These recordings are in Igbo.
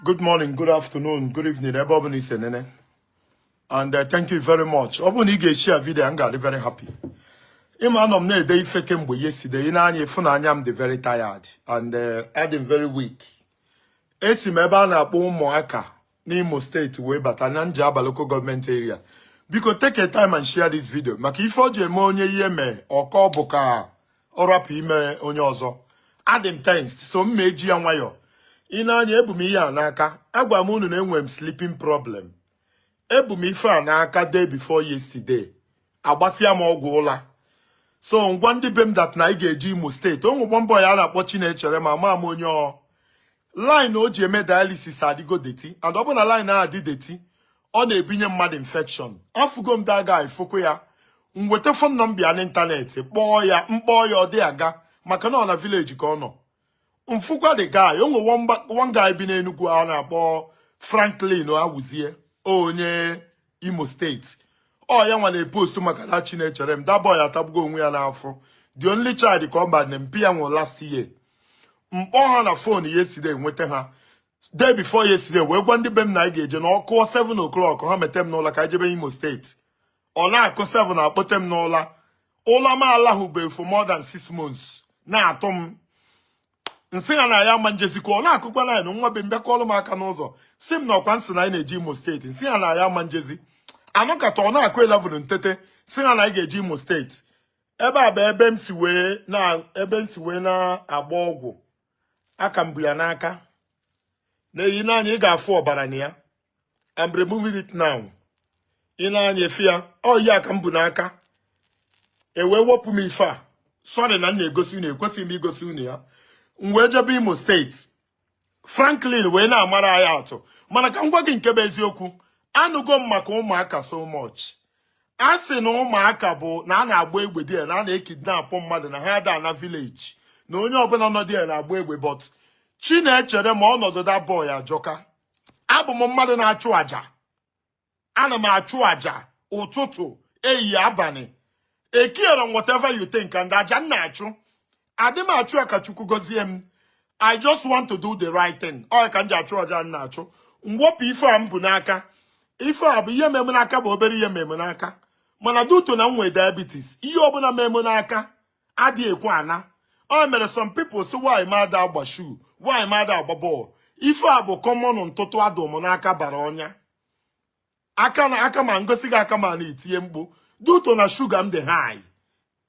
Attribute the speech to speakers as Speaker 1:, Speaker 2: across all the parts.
Speaker 1: good morning good afternoon good evening ebe ọ bụla i si enene and uh, thank you very much ọ bụrụ na ị ga-eshare video a m ga-adị very happy ị ma anọ m na-ede ife kemgbe yesterday i nee anya ị fụ na anya m dị very tired and uh, adị m very weak esi m ebe a na-akpọ Ụmụaka n'Imo steeti wee bata na Njaba local government area biko take a time and share this video maka ife o ji eme onye ihe mee ọ kọọ bụ ka ọ rapụ ime onye ọzọ adị m tensed so m ma eji ya nwayọọ i nee anya ebu m ihe a n'aka agwa m unu na enwe m sleeping problem ebu m ife a n'aka day before yesterday agbasịa m ọgwụ ụla so m gwa ndị be m that na anyị ga-eje Imo steeti o nwe bomboy a na-akpọ Chinecherem ama m onye ọ line o ji eme dialysis adịgo dirty and ọ bụ na line ahụ dị dirty ọ na-ebinye mmadụ infection afụgo m the guy fụkwuo ya m weta phone number ya n'ịntanetị kpọọ ya m kpọọ ya ọ dị aga maka na ọ na village ka ọ nọ m fụkwa the guy o nwe one guy bi n'Enugu a na-akpọ Franklin Awuzie onye Imo steeti ọ ya nwa na-epost maka na Chinecherem that boy atagbugo onwe ya n'afụfụ the only child ka ọ bụ na mpa ya nwụrụ last year m kpọọ ha na phone yesterday nweta ha day before yesterday wee gwa ndị be m na anyị ga-eje na ọ kụọ 7 o'clock ha mete m n'ụla ka anyị jebe Imo steeti ọ na-akụ 7 a kpọte m n'ụla ụla m alahụbeghị for more than 6 months na-atụ m m sị ha na anyị ama ejezikwa ọ na-akụkwa 9 nwa be m bịa kụọlụ m aka n'ụzọ sị m na ọ kwa m sị na anyị na-eje Imo steeti m sị ha na anyị ama ejezi a nọkata ọ na-akụ 11 m tete sị ha na anyị ga-eje Imo steeti ebe a bụ ebe m si wee na ebe m si wee na-agba ọgwụ aka m bu ya n'aka nee ya i nee anya ị ga-afụ ọbara na ya I'm removing it now i nee anya ife a ọ ya ka m bu n'aka e wee wepụ m ife a sorry na m na-egosi unu ekwesịghị m igosi unu ya m wee jebe Imo steeti Franklin wee na-amara anyị atụ mana ka m gwa gị nke bụ eziokwu anụgo m maka Ụmụaka so much a sị na Ụmụaka bụ na a na-agba egbe there na a na-ekidnap mmadụ na agha da na village na onye ọbụla nọ there na-agba egbe but Chinecherem a ọnọdụ that boy ajọka abụ m mmadụ na-achụ aja ana m achụ aja ụtụtụ ehihie abalị ecarerọ m whatever you think and aja m na-achụ adị m achụ ya ka Chukwu gozie m i just want to do the right thing ọ ka m ji achụ aja m na-achụ m wepụ ife a m bu n'aka ife a bụ ihe mee m n'aka bụ obere ihe mee m n'aka mana due to na m nwe diabetes ihe ọbụla mee m n'aka adị ekwe ana o mere some people sị why m ada agba shoe why m ada agba bọọlụ ife a bụ common ntụtụ adụ m n'aka bara ọnya aka na aka m a ngosi gị aka m a itie mkpu due to na sugar m dị high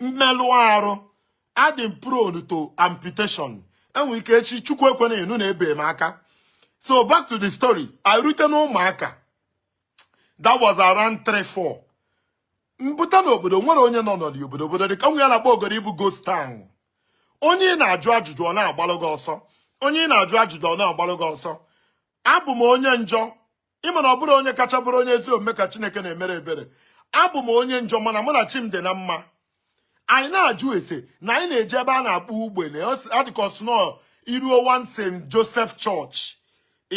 Speaker 1: mmelụ arụ adị m prone to amputation enwere ike echi chukwu ekwena anụ na ebee m aka so back to the story anyị rute na Ụmụaka that was around 3 4 mpụta n'obodo nwerọ onye nọ n'ọdị obodo obodo dị ka nwe ya na-akpọ ogori ịbụ ghost town onye ị na-ajụ ajụjụ ọ na-agbalụ gị ọsọ onye ị na-ajụ ajụjụ ọ na-agbalụ gị ọsọ abụ m onye njọ ịma na ọ bụrọ onye kacha bụrụ onye ezi omume ka Chineke na-emere ebere abụ m onye njọ mana mụ na chi m dị na mma anyị na-ajụ ese na anyị na-eje ebe a na-akpọ ugbene ọ dịka ọsụnọ iruo one St Joseph Church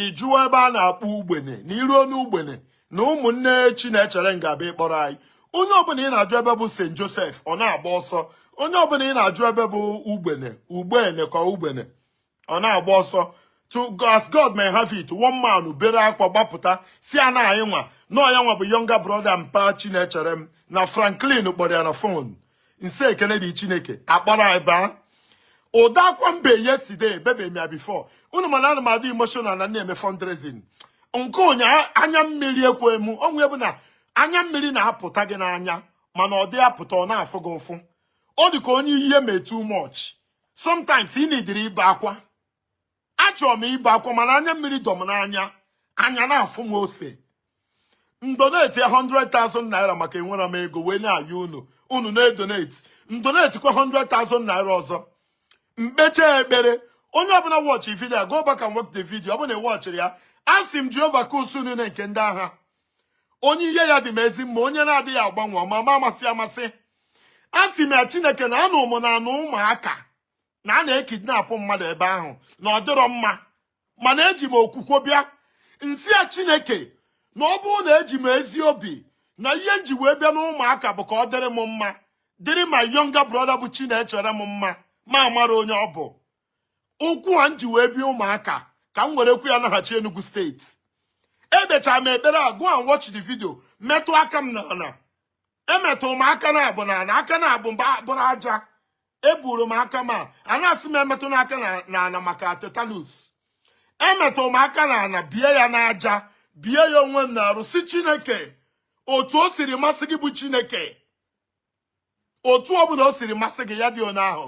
Speaker 1: ịjụọ ebe a na-akpọ ugbene na iruo n'ugbene na ụmụnne Chinecherem ga-abịa ịkpọrọ anyị onye ọbụla ị na-ajụ ebe bụ St Joseph ọ na-agba ọsọ onye ọbụla ị na-ajụ ebe bụ ugbene ugbene ka ugbene ọ na-agba ọsọ so as God may have it one man bere akwa gbapụta sị a na anyị nwa na ọ ya nwa bụ younger brother mpa Chinecherem na Franklin kpọrọ ya na phone nsị ekene dị chineke akpọrọ anyị baa ụdị akwa mbe yesterday ebebe m ya before unu ma na ana m adị emotional na na-eme fundraising nke ụnyaahụ anya mmiri ekwe m onwe bụ na anya mmiri na-apụta gị n'anya mana ọ dị apụta ọ na-afụ gị ụfụ ọ dị ka onye ihe mee too much sometimes ị needịrị ibe akwa achọrọ m ibe akwa mana anya mmiri dọ m n'anya anya na-afụ m ose ndoneti 100,000 naira maka enwere m ego wee na-ayọ unu unu na-edoneti ndoneti kwa 100,000 naira ọzọ mkpecha ekpere onye ọbụla wọchị vidio go back and watch the video ọ bụ na ị wọchịrọ ya asị m Jehova ka usuu niile nke ndị agha onye ihe ya dị m ezi mma onye na-adịghị agbanwe ọmama amasị amasị asị m ya chineke na anụ ụmụ na anụ Ụmụaka na a na-ekidnapụ mmadụ ebe ahụ na ọ dịrọ mma mana eji m okwukwe bịa nsị ya chineke na ọ bụrụ na eji m ezi obi na ihe nji wee bịa n'Ụmụaka bụ ka ọ dịrị m mma dịrị my younger brother bụ Chinecherem mma m amarọ onye ọ bụ ụkwụ a m ji wee bịa Ụmụaka ka m were kwu ya naghachi Enugu steeti ekpecha m ekpere a go and watch the video metụ aka m n'ala emetụ m aka naabọ n'ala aka naabọ m wee buru aja eburu m aka m a a na-asị m emetụna aka n'ala maka tetanus emetụ m aka n'ala bie ya n'aja bie ya onwe m n'arụ sị chineke otu o siri masị gị bụ chineke otu ọ bụla o siri masị gị ya dị otu ahụ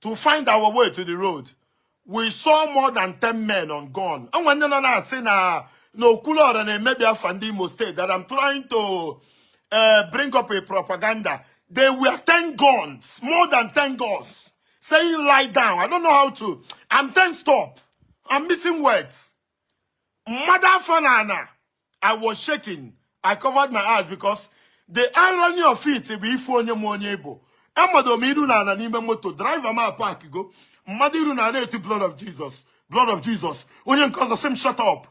Speaker 1: to find our way to the road we saw more than 10 men on gun enwe ndị nọ na-asị na na Okwuluora na-emebi afa ndị Imo State that I'm trying to uh, bring up a propaganda they were 10 guns more than 10 guns saying lie down I don't know how to I'm tensed up I'm missing words m mado afọ na ana i was shaking i covered my eyes because the irony of it bụ ịfụ onye ma onye ị bụ amado m iru na ana n'ime moto driver m apak go m mado iru na ana eti blood of jesus blood of jesus onye nke ọzọ sị m shut up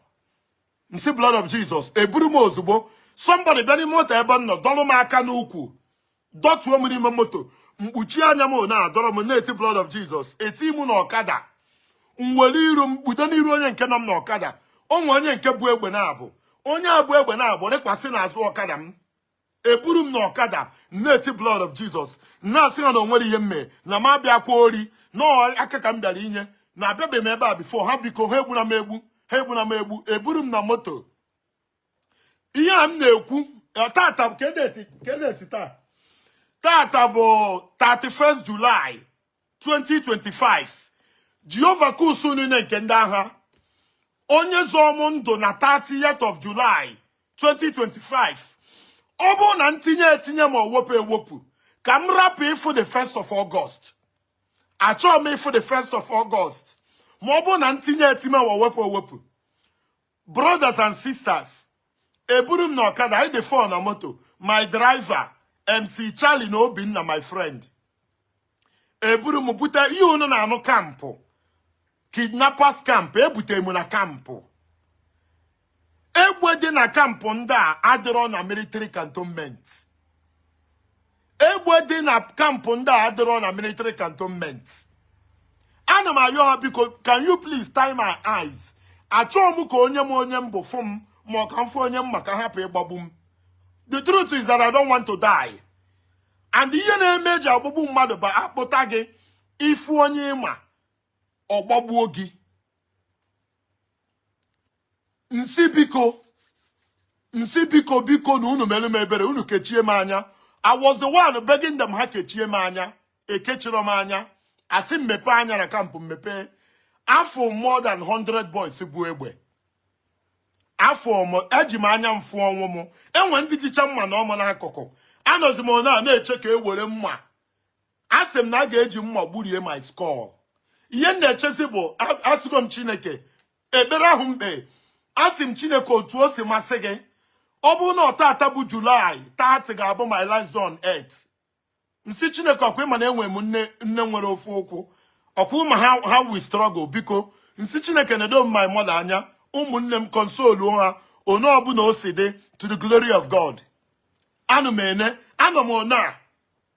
Speaker 1: m sị blood of jesus eburu m ozugbo somebody bịa n'ime moto ebe m nọ dọlụ m aka n'ụkwụ dọtuo m n'ime moto m kpuchie anya m na-adọrọ m na-eti blood of Jesus eti m na ọkada m were iru m kpudo n'iru onye nke nọ m na ọkada onwe onye nke bu egbe naabọ onye a bu egbe naabọ rịkwasị n'azụ ọkada m eburu m na ọkada na-eti blood of Jesus na-asị ha na onwerọ ihe m me na m abịakwa ori na aka ka m bịara inye na abịabeghị m ebe a before ha biko ha egbuna m egbu ha egbuna m egbu eburu m na moto ihe a m na-ekwu eh, tata bụ kee date taa tata bụ 31 July 2025 Jehova nke usuu niile nke ndị agha onye zọọ m ndụ na 30th of July 2025 ọ bụrụ na m tinye etinye ma ọ wepụ ewepụ ka m rapụ ịfụ the first of August achọọ m ịfụ the first of August ma ọ bụrụ na m tinye etinye ma ọ wepụ ewepụ brothers and sisters eburu m na ọkada anyị dị four na moto my driver mc charlie na obinna my friend eburu m bute ihe unu na-anụ kampụ kidnappers camp ebute m na kampụ egbe dị na kampụ ndị a adịrọ na military cantonment egbe dị na kampụ ndị a adịrọ na military cantonment ana m ayọ ha biko can you please tie my eyes achọọ m ka onye ma onye m bụ fụ m ma ọ ka m fụ onye m ma ka a hapụ ịgbagbu m the truth is that I don't want to die and ihe na-eme eji agbagbu mmadụ bụ akpụta gị ị fụ onye ị ma ọ gbagbuo gị m sị biko m sị biko biko na unu mere m ebere unu kechie m anya I was the one begging them ha kechie m anya ekechirọ m anya asị m mepee anya na kampụ m mepee afụ m more than 100 boys bu egbe afụ m eji m anya m fụ ọnwụ m enwe ndị jicha mma na ọmụ n'akụkụ anọzi m na na-eche ka e were mma a sị m na a ga-eji mma gburie my skull ihe m na-echezi bụ asịgo m chineke ekpere ahụ m kpe asị m chineke otu o si masị gị ọ bụ na ọ taata bụ julaị 30 ga-abụ my last day on earth m sị chineke ọkwa ị ma na enwe m nne nwere ofu ụkwụ ọkwa ị ma how we struggle biko m sị chineke nedo m my mother anya ụmụnne m console ha onye ọbụna o si dị to the glory of god anụ m ene anọ m one a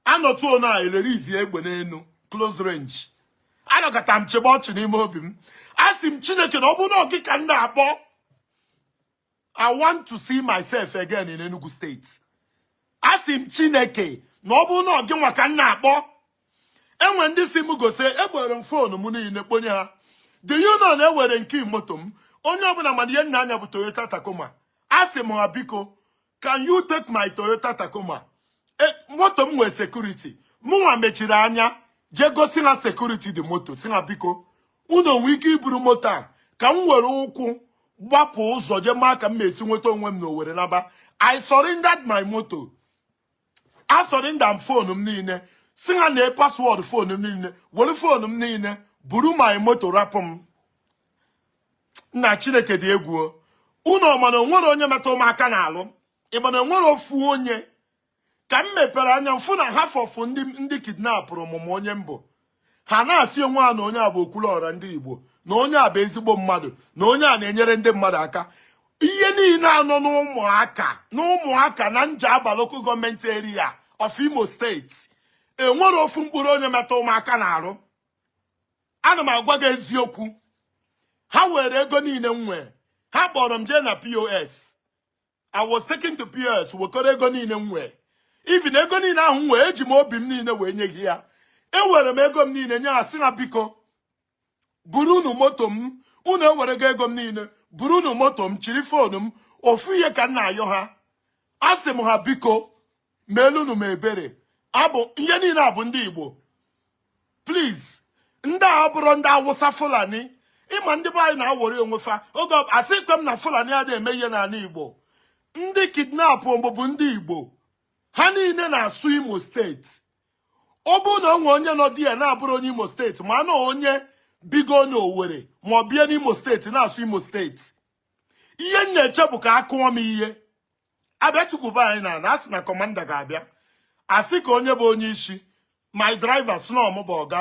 Speaker 1: anọtuo na elerizi egbe n'enu close range anọkata m chịba ọchị n'ime obi m asị m chineke na ọ bụ na ọ gị ka m na-akpọ i want to see myself again in Enugu State asị m chineke na ọ bụ na ọ gịnwa ka m na-akpọ enwe ndị si m gosi egbere m foonu m niile kponye ha do you know na ewere nke moto m onye ọbụna ma na ihe m na-anya bụ Toyota Tacoma asị m ha biko can you take my Toyota Tacoma e, moto m nwee security mụnwa mechiri anya jee gosi ha security dị moto sị ha biko unu ọ nwe ike iburu moto a ka m were ụkwụ gbapụ ụzọ jee maa ka m esi nweta onwe m na Owerri naba I surrendered my moto a surrender m fonu m niile sị ha nee password fonu m niile were fonu m niile buru my moto rapụ m nna chineke dị egwu unu ọ ma na o nwerọ onye metụ m aka n'arụ ị ma na o nwerọ ofu onye ka m mepere anya m fụ na half of ndị kidnapụrụ m ma onye m bụ ha na-asị onwe ha na onye a bụ Okwuluọra ndị Igbo na onye a bụ ezigbo mmadụ na onye a na-enyere ndị mmadụ aka ihe niile a nọ n'Ụmụaka n'Ụmụaka na Njaba local government area of Imo State enwerọ ofu mkpụrụ onye metụ m aka n'arụ ana m agwa gị eziokwu ha were ego niile m nwee ha kpọrọ m jee na POS I was taken to POS wekọrọ ego niile m nwee even ego niile ahụ m nwee eji m obi m niile wee nye ha ya ewere m ego m niile nye ha sị ha biko burunu moto m unu ewerego ego m niile burunu moto m chiri foonu m ofu ihe ka m na-ayọ ha asị m ha biko meelụnụ m ebere abụ ihe niile a bụ ndị Igbo please ndị a abụrọ ndị Awụsa Fulani ị ma ndị be anyị na-aworry onwe fa oge asịghịkwa m na Fulani adịghị eme ihe n'ala Igbo ndị kidnap bụ ndị Igbo ha niile na-asụ Imo steeti ọ bụ na o nwe onye nọ there na-abụrọ onye Imo steeti ma na onye bigo n'Owerri ma ọ bie n'Imo steeti na-asụ Imo steeti ihe m na-eche bụ ka a kụọ m ihe a bịa tukwuba anyị n'ana a sị na commander ga-abịa a sị ka onye bụ onye isi my driver sị na ọ mụ bụ ọga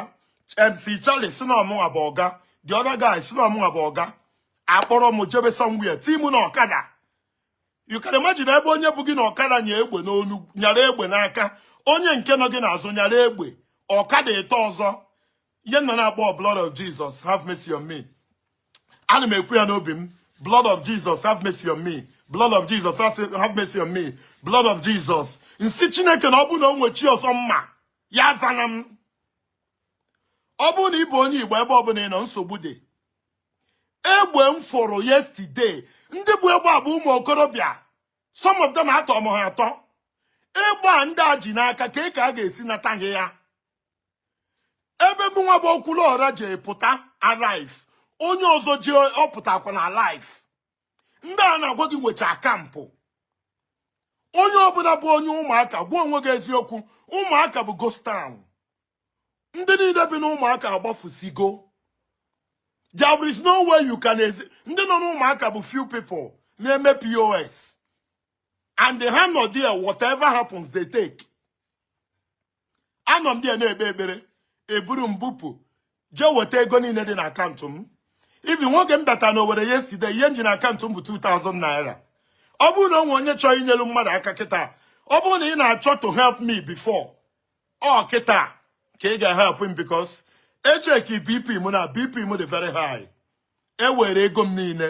Speaker 1: MC Charlie sị na ọ mụnwa bụ ọga the other guy sị na ọ mụnwa bụ ọga a kpọrọ m jebe somewhere tii mụ na ọkada you can imagine ebe onye bu gị na ọkada nya egbe n'olu nyara egbe n'aka onye nke nọ gị n'azụ nyara egbe ọkada ịtọ ọzọ ihe m na-akpọ blood of Jesus have mercy on me ana m ekwu ya n'obi m blood of Jesus have mercy on me blood of Jesus have mercy on me blood of Jesus m sị chineke na ọ bụ na o nwe chi ọzọ m ma ya azana m ọ bụrụ na ị bụ onye igbo ebe ọbụla ị nọ nsogbu dị egbe m fụrụ yesterday ndị bu egbe a bụ ụmụ okorobịa some of them atọ m ha atọ egbe a ndị a ji n'aka kee ka a ga-esi nata ha ya ebe mụ nwa bụ okwuluọra ji pụta alive onye ọzọ ji ọ pụtakwa na alive ndị a na-agwa gị nwecha camp onye ọbụla bụ onye ụmụaka gwa onwe gị eziokwu ụmụaka bụ ghost town ndị niile bi n'ụmụaka agbafusigo there is no way you can ezi ndị nọ n'ụmụaka bụ few people na-eme pos and ha nọ there whatever happens they take anọ m there na-ekpe ekpere e buru m bupụ jee weta ego niile dị na akaụntụ m even n'oge m bata na owere yesterday ihe m ji na akaụntụ m bụ 2000 naira ọ bụrụ na o nwe onye chọọ inyelu mmadụ aka kịta ọ bụrụ na ị na-achọ to help me before ọ kịta ka ị ga-help m because e cheki bp m na bp m dị very high e were ego m niile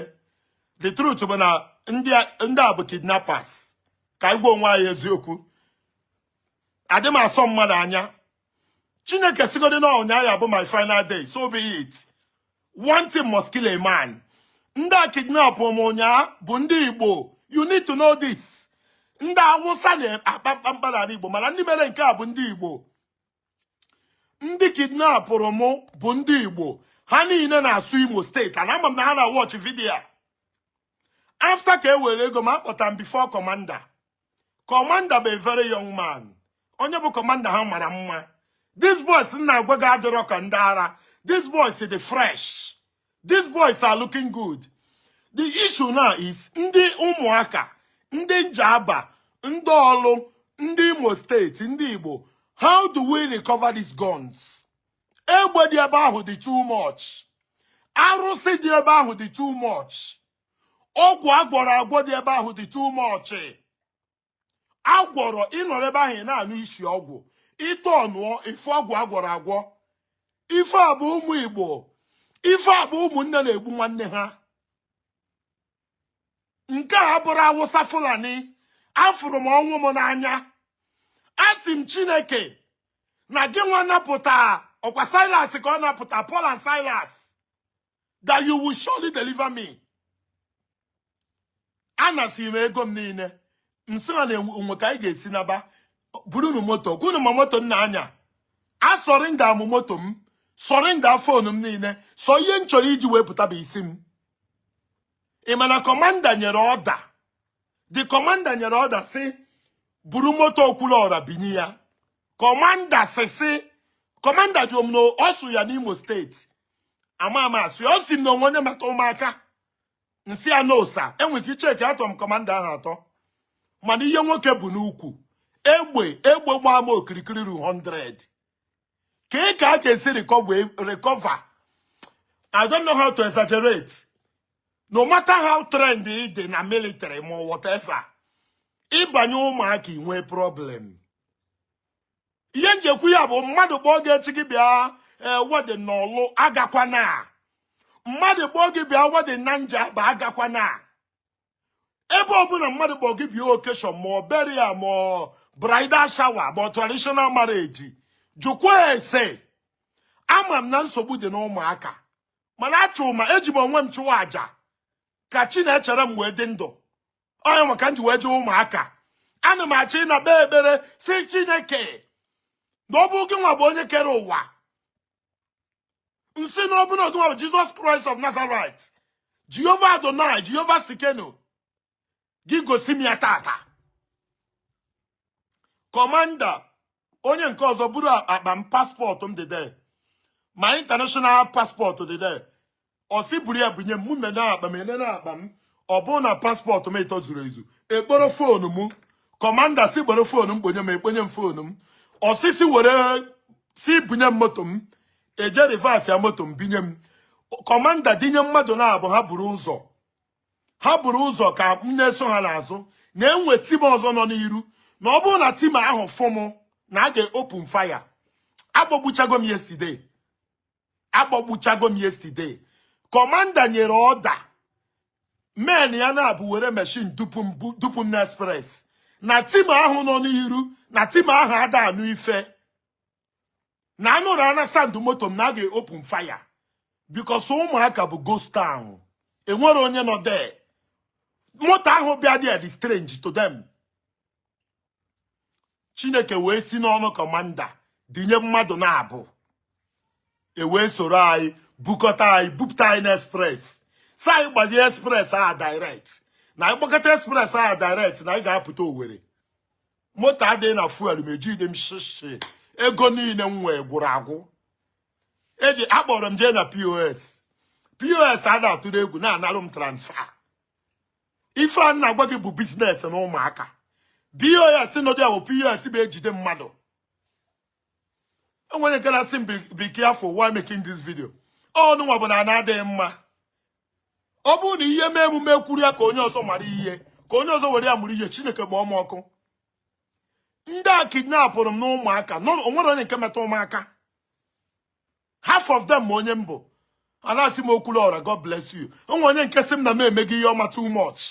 Speaker 1: the truth bụ na ndị a bụ kidnappers ka anyị gwa onwe anyị eziokwu adị m asọ mmadụ anya chineke sịgodi na ụnyaahụ ya bụ my final day so be it one thing must kill a man ndị a kidnapụrụ m ụnyaahụ bụ ndị igbo you need to know this ndị awụsa na-akpa mkpamkpa n'ala igbo mana ndị mere nke a bụ ndị igbo ndị kidnapụrụ m bụ ndị igbo ha niile na-asụ imo steeti and ama m na ha na-watch video after ka e were ego m a kpọta m before commander commander bụ a very young man onye bụ commander ha mara mma these boys m na-agwa gị adịrọ ka ndị ara these boys dị fresh these boys are looking good the issue now is ndị ụmụaka ndị njaba ndị ọlụ ndị imo steeti ndị igbo how do we recover these guns egbe dị ebe ahụ dị too much arụsị dị ebe ahụ dị too much ọgwụ a gwọrọ agwọ dị ebe ahụ dị too much a gwọrọ ị nọrọ ebe ahụ ị na-anụ isi ọgwụ ịtọ ọnụọ ife ọgwụ a gwọrọ agwọ ife a bụ ụmụ igbo ife a bụ ụmụnne na-egbu nwanne ha nke a abụrọ awụsa fulani afụrụ m ọnwụ m n'anya asị m chineke na gị nwa napụta ọ kwa silas ka ọ napụta paul and silas that you will surely deliver me anasị m ego m niile m sị ha na e nwee ka anyị ga-esi naba burunu moto kwunu ma moto m na-anya a surrender m moto m surrender phone m niile sọ ihe m chọrọ iji wee pụta bụ isi m ị ma na commander nyere order the commander nyere order sị buru moto Okwuluọra binye ya commander sị sị commander jụrụ m na ọ sụ ya n'Imo State ama ama asị ọ sị na o nwe onye mata ụmụaka nsị ya no sir enwere ike icheki atọ m commander ahụ atọ mana ihe nwoke bu n'ukwu egbe egbe gbaa m okirikiri 100 ka ị ka a ga-esi recover I don't know how to exaggerate no matter how trained ị dị na military ma whatever ị banye ụmụaka i nwee problem ihe nji ekwu ya bụ mmadụ kpọọ gị echi gị bịa eh, wedding na Ọlụ agakwana mmadụ kpọọ gị bịa wedding na Njaba agakwana ebe ọbụla mmadụ kpọọ gị bịa occasion ma ọ burial ma ọ bridal shower ma ọ traditional marriage jụkwa ese ama m na nsogbu dị n'ụmụaka mana achụ ma eji m onwe m chụwa aja ka Chinecherem wee dị ndụ onye maka m ji wee jee ụmụaka ana m achọ ịna kpee ekpere sị Chineke na ọ bụ gị nwa bụ onye kere ụwa nsị na ọ bụ na gị nwa bụ Jesus Christ of Nazareth Jehovah Adonai Jehovah Tsidkenu gị gosi m ya tata commander onye nke ọzọ buru akpa m passport m dị there my international passport dị there ọ sị buru ya bunye m mụ me na akpa m ele na akpa m ọ bụrụ na passport m ịtọ zuru ezu e kporo phone m commander sị kporo phone m kponye m e kponye m phone m ọ sịsị were sị bunye m moto m e jee reverse ya moto m binye m commander dinye mmadụ naabụ ha buru ụzọ ha buru ụzọ ka m na-eso ha n'azụ na e nwe team ọzọ nọ n'iru na ọ bụrụ na team ahụ fụ m na a ga-open fire agbagbuchago m yesterday agbagbuchago m yesterday commander nyere order men ya naabụ were machine dupu m na express na team ahụ nọ n'iru na team ahụ ada anụ ife na a nụrụ ana sound moto m na a ga-open fire because ụmụaka bụ ghost town enwere onye nọ there moto ahụ bịa dị dị strange to them chineke wee si n'ọnụ commander dinye mmadụ naabụ e wee soro anyị bukọta anyị bupụta anyị na express sị anyị gbazie express a direct na anyị gbakọta express a direct na anyị ga-apụta Owerri moto adịghị na fuel ma ejide m shishi ego niile m nwee gwụrụ agwụ eji akpọrọ m jee na pos pos a na-atụrụ egwu na-analụ m transfer ife m na-agwa gị bụ business na Ụmụaka pos nọ there bụ pos bụ ejide mmadụ o nwere nke na-asị m be careful while making this video ọnụnwa bụ na ana adịghị mma ọ bụrụ na ihe mee mụ m kwuru ya ka onye ọzọ mara ihe ka onye ọzọ were ya mụrụ ihe Chineke gbaa unu ọkụ ndị a kidnapụrụ m n'Ụmụaka onwerọ onye nke metụ m aka half of them ma onye m bụ a na-asị m Okwuluora God bless you onwe onye nke sị m na m emego ihe ọma too much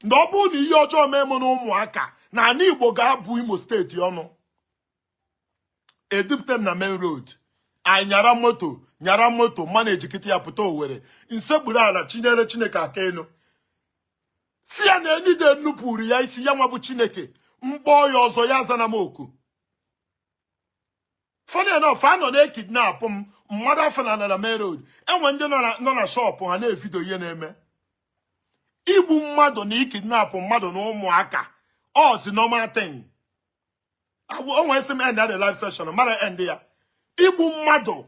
Speaker 1: na ọ bụrụ na ihe ọjọọ mee m na Ụmụaka na ala Igbo ga-abụ Imo steeti ọnụ edupụta m na main road anyị nyara moto nyara moto managekịta ya pụta Owerri m sekpuru ala chinyere chineke aka elu sị ya na any day m nupụrụ ya isi ya nwa bụ chineke m kpọọ ya ọzọ ya azana m oku funny enough a nọ na-ekidnapụ m madọ m afọ na ala na main road enwe ndị nọ na shop ha na-evidio ihe na-eme igbu mmadụ na ikidnapụ mmadụ na Ụmụaka ọzi normal thing onwe sị m end the live session mara end ya igbu mmadụ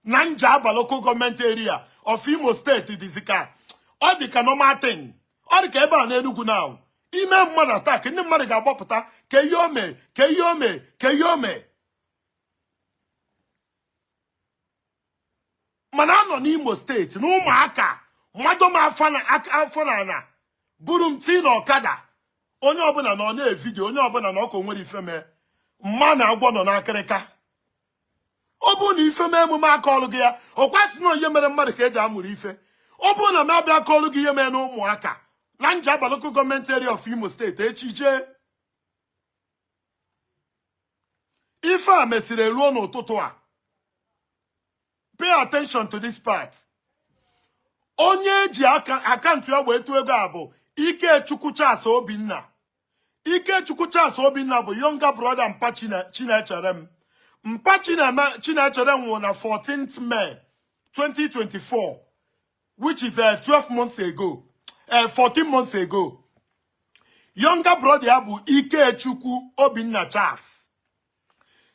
Speaker 1: na Njaba local government area of Imo steeti dịzi ka ọ dị ka normal thing ọ dị ka ebe a n'Enugu now i mee mmadụ attack ndị mmadụ ga-agbapụta kee ihe o me kee ihe o me kee ihe o me mana a nọ n'Imo steeti na Ụmụaka madọ m afọ na aka- afọ na ana buru m tii na ọkada onye ọbụla nọ na-evidio onye ọbụla na ọkụ nwere ife mee mana agwọ nọ n'akịrịka ọ bụrụ na ife mee mụ m akọọrọ gị ya ọ kwa sị na ọ ihe mere mmadụ ka eji amụrụ ife ọ bụrụ na m abịa akọọrọ gị ihe mee na Ụmụaka na Njaba local government area of Imo steeti echi jee ife a mesịrị eruo n'ụtụtụ a pay attention to this part onye eji akaụntụ ya wee tụọ ego a bụ Ikechukwu Charles Obinna Ikechukwu Charles Obinna bụ younger brother Mpa Chinecherem Mpa Chinecherem nwụrụ na 14th May 2024 which is uh, 12 months ago, uh, 14 months ago. Younger brother ya bụ Ikechukwu Obinna Charles.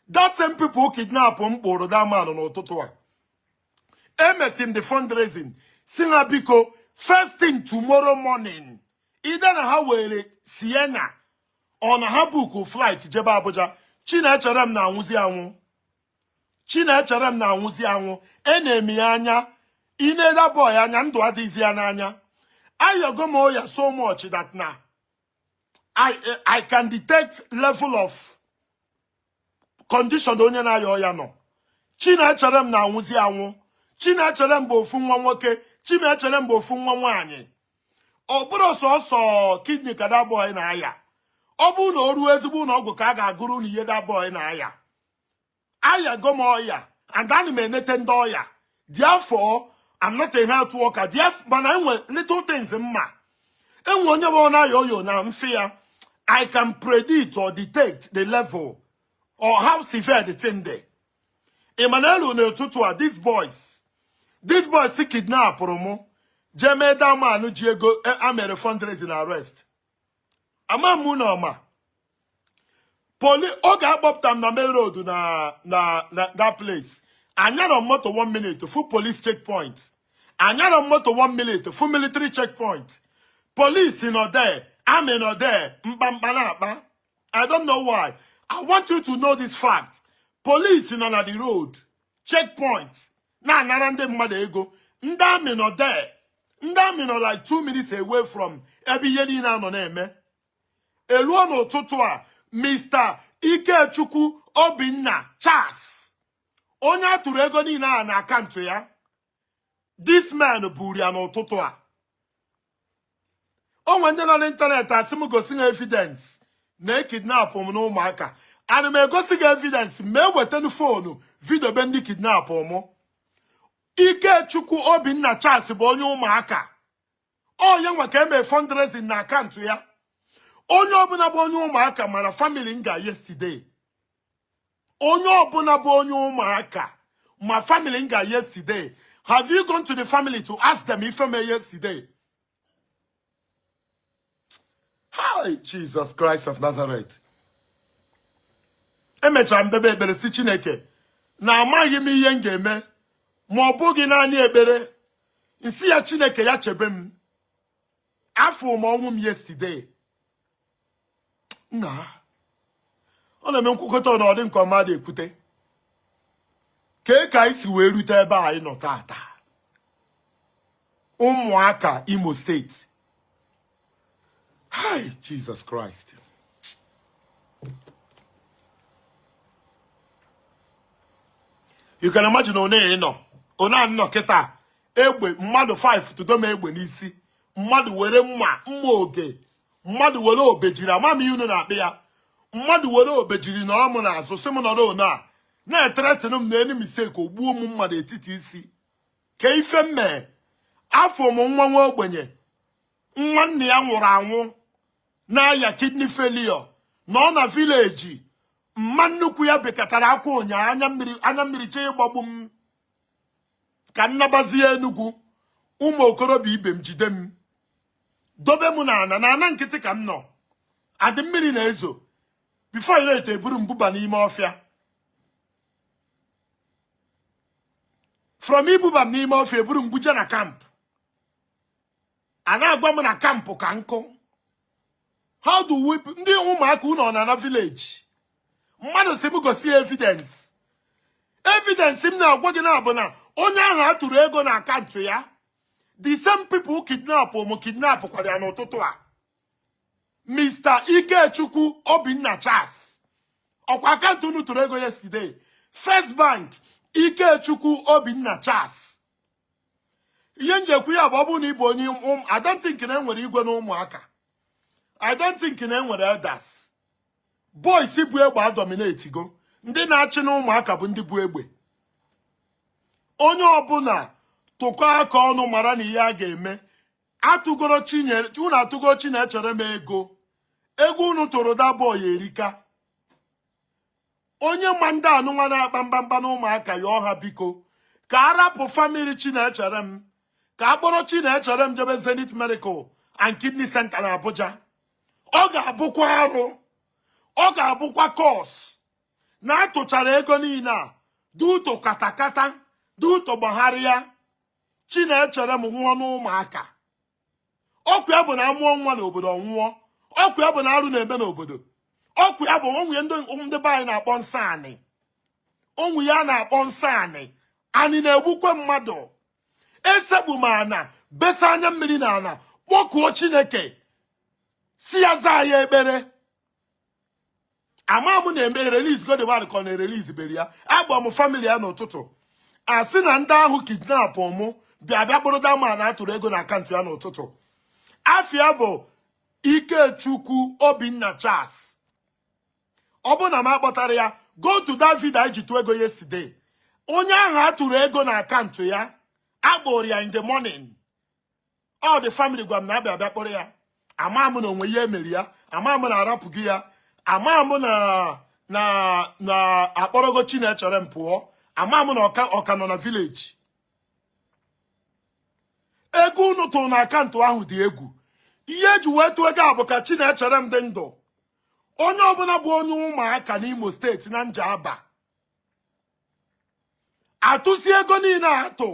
Speaker 1: That same people kidnap m kpụrụ that man n'ụtụtụ a. Emesi m the fundraising sị ha biko first thing tomorrow morning either na ha were Sienna or na ha buku flight jebe Abuja Chinecherem na-anwụzi anwụ Chinecherem na-anwụzi anwụ enee m ya anya i nee that boy anya ndụ adịghịzi ya n'anya ayago m ọya so much that now I can detect level of condition onye na-aya ọya nọ Chinecherem na-anwụzi anwụ Chinecherem bụ ofu nwa nwoke Chinecherem bụ ofu nwa nwaanyị ọ bụrọ sọsọ kidney ka that boy na-aya ọ bụ na o ruo ezigbo ụlọ ọgwụ ka a ga-agụrụ unu ihe that boy na-aya ayago m ọya and ana m enete ndị ọya therefore I'm not a health worker mana enwe little things m ma enwe onye bụ na-aya ọya na m fụ ya I can predict or detect the level or how severe the thing dey ị ma na eluo n'ụtụtụ a these boys these boys kidnapụrụ mụ jee mee that man ji ego e mere fundraising arrest ama m na ọma poli oge akpọpụta m na main road na na na that place anyarọ m moto one minute fụ police checkpoint anyarọ m moto one minute fụ military checkpoint police nọ there army nọ there mkpamkpa na-akpa i don't know why i want you to know this fact police nọ na the road checkpoint na-anara ndị mmadụ ego ndị army nọ there ndị army nọ like two minutes away from ebe ihe niile a nọ na-eme eluo n'ụtụtụ a Mr. Ikechukwu Obinna Charles onye a tụrụ ego niile a na account ya this man buru ya n'ụtụtụ a o nwe ndị nọ n'ịntanetị asị m gosi ha evidence na e kidnapụ m n'Umuaka and m egosi ha evidence m ewetenu phone video be ndị kidnapụ mụ Ikechukwu Obinna Charles bụ onye Umuaka ọ ya nwa ka e mee fundraising na account ya onye ọbụna bụ onye Umuaka mara family m ga yesterday onye ọbụna bụ onye Umuaka ma family m ga yesterday have you gone to the family to ask them ife mee yesterday hai Jesus Christ of Nazareth emechaa m kpebe ekpere sị Chineke na amaghị m ihe m ga-eme ma ọ bụghị naanị ekpere m sị ya Chineke ya chebe m afụ m ọnwụ m yesterday na ọ na-eme nkwukọta na ọ dị nke mmadụ ekwute kee ka anyị si wee rute ebe anyị nọ tata Umuaka Imo State Hi, Jesus Christ. You can imagine one ịnọ one anọ kịta ebe mmadụ 5 tụdo m egbe n'isi mmadụ were mma mma oge mmadụ were obejiri ama m ihe unu na-akpọ ya mmadụ were obejiri nọ mụ n'azụ sị m nọrọ one a na-ethreaten m na any mistake ogbuo m mmadụ etiti isi ke ife m mee afụ m nwa nwa ogbenye nwa nna ya nwụrụ anwụ na-aya kidney failure nọ na vileji mama nnukwu ya bekatara akwa ụnyaa anya mmiri chọọ ịgbagbu m ka m nabazie enugwu ụmụ okorobịa ibe m jide m dobe m na ana na ana nkịtị ka m nọ and mmiri na-ezo before you know it eburu m buba n'ime ọfịa from ibuba m n'ime ọfịa eburu m buje na kamp a na-agwa m na kampụ ka nkụ how do we ndị ụmụaka unu nọ na village mmadụ si m gosi evidence evidence m na-agwa gị na bụ na onye ahụ a tụrụ ego na akaụntụ ya the same people kidnapụ mụ kidnapụkwara ya n'ụtụtụ a Mr. Ikechukwu Obinna Charles ọkwa akaụntụ unu tụrụ ego yesterday First Bank Ikechukwu Obinna Charles ihe m ji ekwu ya bụ ọ bụrụ na ị bụ onye um, I don't think na enwere igwe na ụmụaka I don't think na enwere elders boys bu egbe adominatigo ndị na-achị na ụmụaka bụ ndị bu egbe onye ọbụla tụkọ aka ọnụ mara na ihe a ga-eme atụgoro chinyere unu atụgo Chinecherem ego ego unu tụrụ that boy erika onye ma ndị anụnwa na-akpa mkpamkpa na ụmụaka yọọ ha biko ka a rapụ famili Chinecherem ka a kpọrọ Chinecherem jebe zenith medical and kidney center na abuja ọ ga-abụkwa arụ ọ ga-abụkwa curse na atụchara ego niile a due to katakata due to gbagharịa Chinecherem nwụọ n'ụmụaka ọ kwa ya bụ na amụọ nwa n'obodo ọ nwụọ ọ kwa ya bụ na arụ na-eme n'obodo ọ kwa ya bụ o nwe ihe ndị be anyị na-akpọ nsọ anị o nwe ihe a na-akpọ nsọ anị anị na-egbukwe mmadụ esekpu m ana besa anya mmiri na ana kpọkuo chineke sị ya zaa ya ekpere ama m na ma erelizgo the man ka ọ na erelizberọ ya akpọ m famili ya n'ụtụtụ a sị na ndị ahụ kidnapụ mụ bịa bịa kpụrụ that man atụrụ ego na akaụntụ ya n'ụtụtụ afa ya bụ Ikechukwu Obinna Charles ọ bụrụ na m akpọtarọ ya go to that video anyị ji tụọ ego yesterday onye ahụ atụrụ ego na akaụntụ ya akpụrụ ya in the morning ọ dị family gwa m na abịa abịa kpọrọ ya ama m na onwe ihe emere ya ama m na arapụghị ya ama m na na na akpọrọgo chinecherem pụọ ama m na ọ ka ọ ka nọ na village ego unu tụrụ na akaụntụ ahụ dị egwu ihe eji wee tụọ ego a bụ ka chinecherem dị ndụ onye ọbụla bụ onye ụmụaka n'imo steeti na njaba atụsi ego niile atụ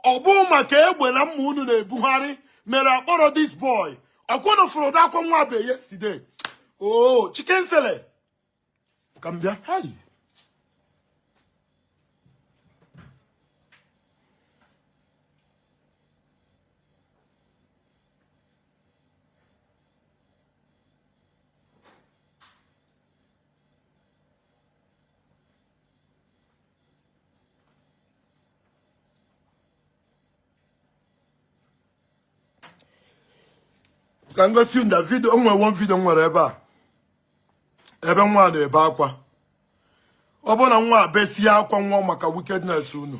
Speaker 1: ọ bụ maka egbe na mma unu na-ebugharị mere akpọrọ this boy ọkwa unu fụrụ ụdị akwa nwa be yesterday o oh, chicken sele ka m bịa ka m gosi the vidio o nwere one vidio m nwere ebe a ebe nwa na-ebe akwa ọ bụ na nwa a besịa akwa nwa maka wickedness unu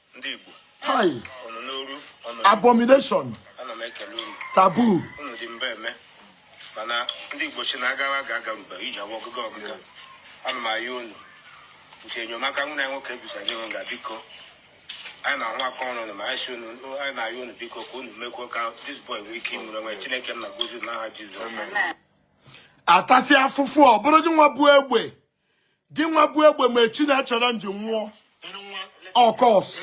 Speaker 2: abomination taboo mana ndị Igbo si na agawa ga-agarube iji awa ọgụgụ ọgụga ana m ayọ unu nke enyemaka nwunye anyị nwoke gusa nye nga biko anyị na-ahụ aka ọrụ na ma anyị si unu anyị na-ayọ unu biko ka unu mekwuo ka this boy nwee ike ịmụrụ nwe Chineke nna gọzie n'aha Jizọs
Speaker 1: atasị afụfụ ọ bụrụ gị nwa bu egbe gị nwa bu egbe mee chinecherem ji nwụọ
Speaker 2: of course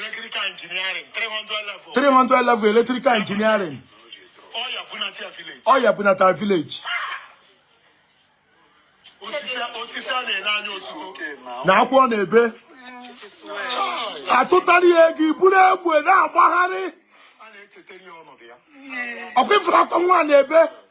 Speaker 2: 300 level electrical
Speaker 1: engineering ọ ya-abụ ọ nata village
Speaker 2: na akwụkwọ
Speaker 1: na-ebe atụtara ya ego iburu egbe na-agbagharị
Speaker 2: ọkwa ifuru
Speaker 1: akwa nwa na-ebe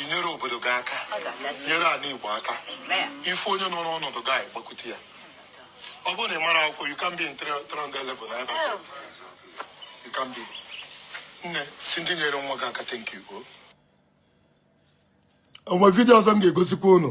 Speaker 2: inyere obodo gị aka nyere ala Igbo aka ị fụ onye nọ n'ọnọdụ gị a ị gbakwute ya ọ bụrụ na ị mara akwụkwọ you can be in 300 level na ebe you can be nne si ndị nyere nwa gị aka thank
Speaker 1: you onwe vidio ọzọ m ga-egosikwa unu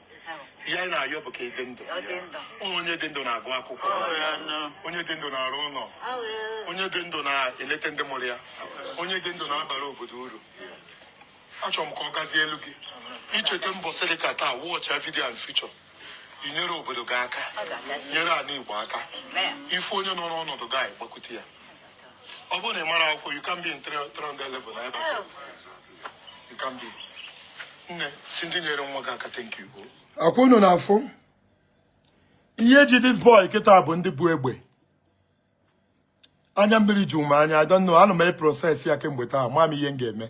Speaker 1: ihe anyị na-ayọ bụ ka ịdị ndụ onye dị ndụ na-agụ akwụkwọ onye dị ndụ na-arụ ụlọ onye dị ndụ na-eleta ndị mụrụ ya onye dị ndụ na-abara obodo uru achọrọ m ka ọ gazielu gị icheta mbọsị dị ka taa wọchịa vidio a in future inyere obodo gị aka nyere ala igbo aka ị fụ onye nọ n'ọnọdụ gị a ị gbakwute ya ọ bụrụ na ị mara akwụkwọ you can be in 300 level na ebe a. you can be nne sị ndị nyere nwa gị aka thank you ọkwa unu na-afụ ihe ji this boy kịta bụ ndị bu egbe anya mmiri ju m anya I don't know ana m e process ya kemgbe taa ama m ihe m ga-eme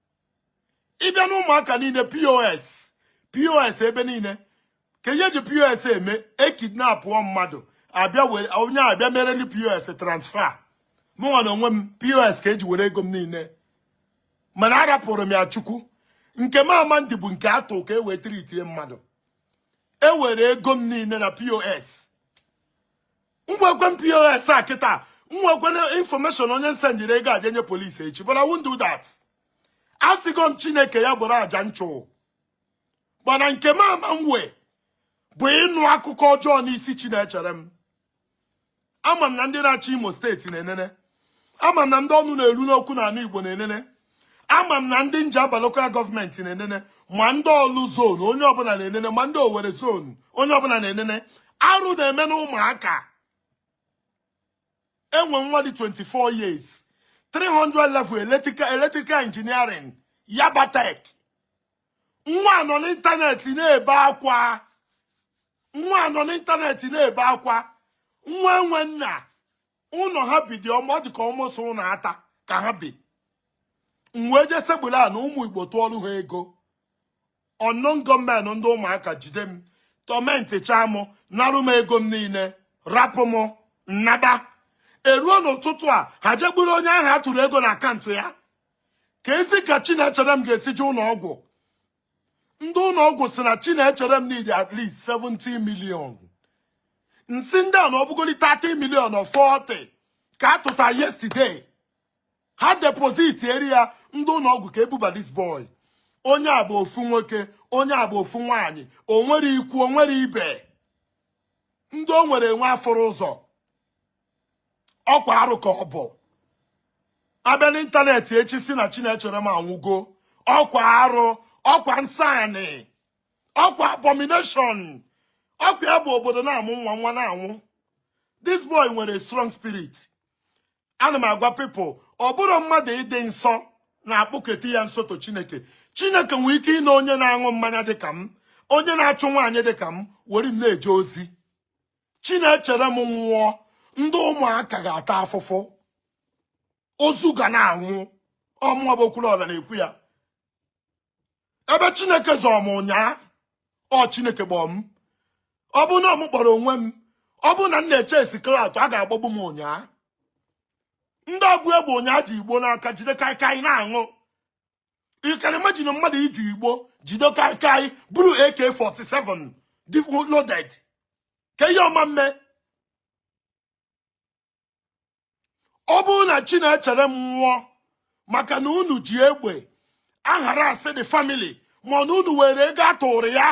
Speaker 1: ị bịa na ụmụaka niile pos pos ebe niile kee ihe e ji pos eme e kidnapụọ mmadụ abịa were onye abịa mere ndị pos transfer mụnwa na onwe m pos ka eji were ego m niile mana arapụrụ m ya chukwu nke m ama edi bụ nke atụ ka e wee treatie mmadụ e were ego m niile na pos nwekwe m pos a kịta nwekwe information onye m sendịrị ego a je nye police echi but I won't do that asịgo m chineke ya bụrụ aja nchụ but nke m ama m wee bụ ịnụ akụkọ ọjọọ n'isi chinecherem ama m na ndị na-achị imo steeti na-enene ama m na ndị ọnụ na-eru n'okwu n'ala Igbo na-enene ama m na ndị njaba local government na-enene ma ndị ọlụ zone onye ọbụla na-enene ma ndị owere zone onye ọbụla na-enene arụ na-eme na ụmụaka enwe nwa dị 24 years 300 level electrical electrical engineering yabatech nwa nọ n'ịntanetị na-ebe akwa nwa nọ n'ịntanetị na-ebe akwa nwa enwe nna ụnọ ha bi dị ọma ọ dị ka m ọ sọ ụnọ ata ka ha bi m wee jee sekpuru ana ụmụ igbo tụọrụ ha ego unknown gunmen ndị ụmụaka jide m torment chaa m narụ m ego m niile rapụ m m naba e ruo n'ụtụtụ a ha je buru onye ahụ a tụrụ ego na account ya keezi ka chinecherem ga-esi je ụnọ ọgwụ ndị ụnọ ọgwụ sị na chinecherem need at least 70 million m sị ndị a na ọ bụgodi 30 million or 40 ka a tụta yesterday ha depositiri ya ndị ụnọ ọgwụ ka e buba this boy onye a bụ ofu nwoke onye a bụ ofu nwaanyị o nwere ikwu o nwere ibe ndị o nwere enwe afụrọ ụzọ ọkwa arụ ka ọ bụ a bịa n'ịntanetị echi sị na chinecherem anwụgo ọkwa arụ ọkwa nsọ anị ọkwa abomination ọkwa ya bụ obodo na-amụ nwa nwa na-anwụ this boy nwere strong spirit ana m agwa people ọ bụrọ mmadụ ịdị nsọ na-akpụketa ya nso to chineke chineke nwee ike ịna onye na-aṅụ mmanya dịka m onye na-achụ nwaanyị dịka m were m na-eje ozi chinecherem nwụọ ndị ụmụaka ga-ata afụfụ ozu ga na-anwụ ọ mụwa bụ okwuluọra na-ekwu ya ebe chineke zọrọ m ụnyaa ọ chineke gbọọ m ọ bụ na m kpọrọ onwe m ọ bụ na m na-eche security a ga-agbagbu m ụnyaa ndị obu egbe ụnyaa ji igbo n'aka jide kaikai na-aṅụ you can imagine mmadụ iji igbo jide kaikai buru ak47 loaded ka ihe ọma mme ọ bụrụ na chinecherem nwụọ maka na unu ji egbe aharass the family ma na unu were ego atụrụ ya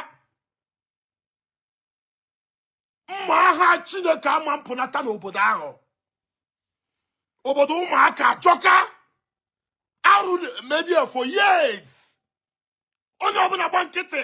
Speaker 1: mma agha chineke ama mpụnata n'obodo ahụ obodo ụmụaka achọka arụ media for years onye ọbụla gba nkịtị